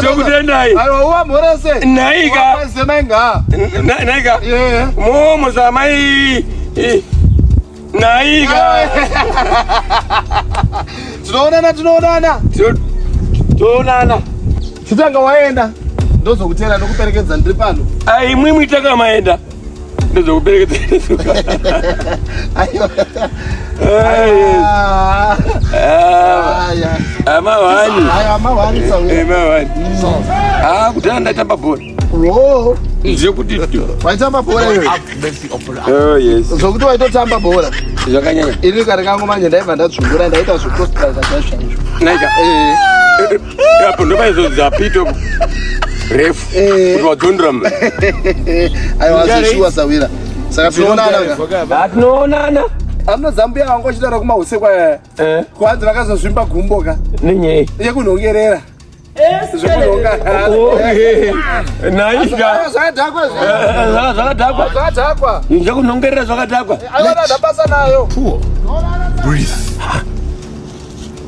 tokutendai naika naika momo zamai naika tinoonana tinoonana tinoonana chitanga waenda ndozokutera ndokuperekedza ndiri pano aimwimwi takamaenda kudhara ndaitamba bhora zvekuti waitamba bhora zvokuti waitotamba bhora zvakanyanya ini kare kangu manje ndaibva ndadzvungura ndaita zvekostra zvachaizvo apo ndopaizodza pito refu eh. kuti wadzondera mna aiwa zeshuwa sawira saka tinoonana ka tinoonana amno zambuya wangu achitaura kumahusekwa eh. eh. kwanzi vakazozvimba gumbo ka nenyei yekunhongerera zvakadhakwa zvekunhongerera zvakadhakwa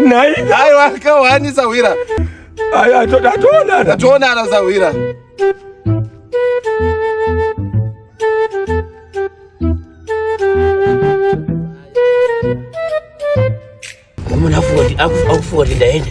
Nai. Nai waka wani sawira. Ayi atona atona. Atona na sawira. Mwana afuwa afuwa ndaenda.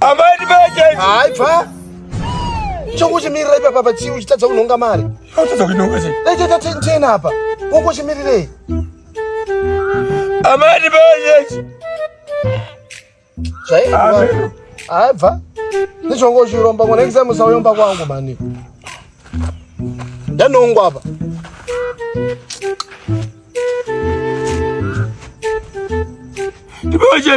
Amai ndibeje. Hayi bva. Chokuchimirira ipa papa chii uchitadza kunhonga mari. Uchitadza kunhonga chii? Dai tata tena apa. Wokuchimirirei? Amai ndibeje. Zvayi. Amen. Hayi bva. Ndichongo chiromba ngona exam usayomba kwangu mani. Ndanongwa apa. Ndibeje.